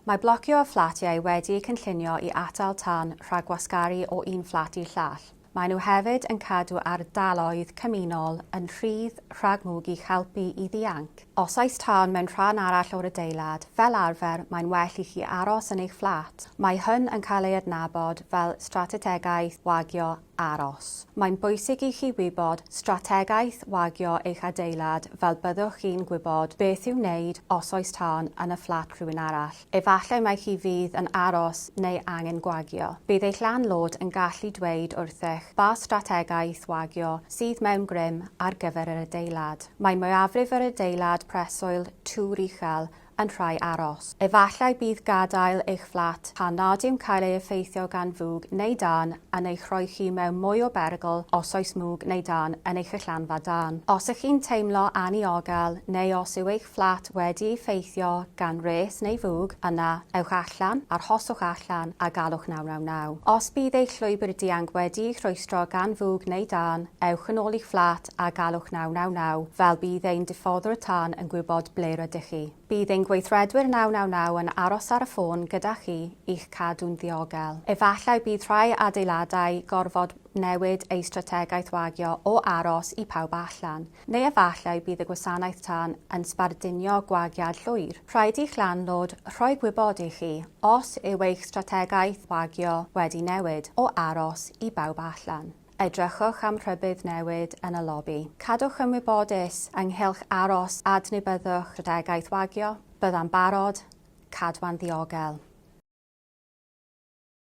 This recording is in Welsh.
Mae blocio y fflatiau wedi'u cynllunio i atal tân rhag gwasgaru o un fflat i'r llall. Maen nhw hefyd yn cadw ardaloedd cymunol yn rhydd rhag mwg i'ch helpu i ddianc. Os oes tân mewn rhan arall o'r adeilad, fel arfer mae'n well i chi aros yn eich fflat. Mae hyn yn cael ei adnabod fel stratetegaeth wagio aros. Mae'n bwysig i chi wybod strategaeth wagio eich adeilad fel byddwch chi'n gwybod beth i'w wneud os oes tân yn y fflat rhywun arall. Efallai mai chi fydd yn aros neu angen gwagio. Bydd eich landlord yn gallu dweud wrthych ba strategaeth wagio sydd mewn grym ar gyfer yr adeilad. Mae mwyafrif yr adeilad preswyl twr uchel yn rhai aros. Efallai bydd gadael eich fflat pan nad yw'n cael ei effeithio gan fwg neu dân yn eich rhoi chi mewn mwy o berygl os oes mwg neu dân yn eich allanfa dân. Os ych chi'n teimlo anniogel neu os yw eich fflat wedi'i effeithio gan wres neu fwg, yna ewch allan, arhoswch allan a galwch 999. Os bydd eich llwybr dianc wedi'i rhwystro gan fwg neu dân, ewch yn ôl i'ch fflat a galwch 999 fel bydd ein diffoddwr y tân yn gwybod ble rydych chi. Bydd ein gweithredwyr 999 yn aros ar y ffôn gyda chi i'ch cadw'n ddiogel. Efallai bydd rhai adeiladau gorfod newid eu strategaeth wagio o aros i pawb allan, neu efallai bydd y gwasanaeth tân yn sbarduno gwagiad llwyr. Rhaid i'ch landlord rhoi gwybod i chi os yw eich strategaeth wagio wedi newid o aros i bawb allan. Edrychwch am rhybudd newid yn y lobi. Cadwch yn wybodus ynghylch aros a dni byddwch strategaeth wagio, byddai'n barod, cadwa'n ddiogel.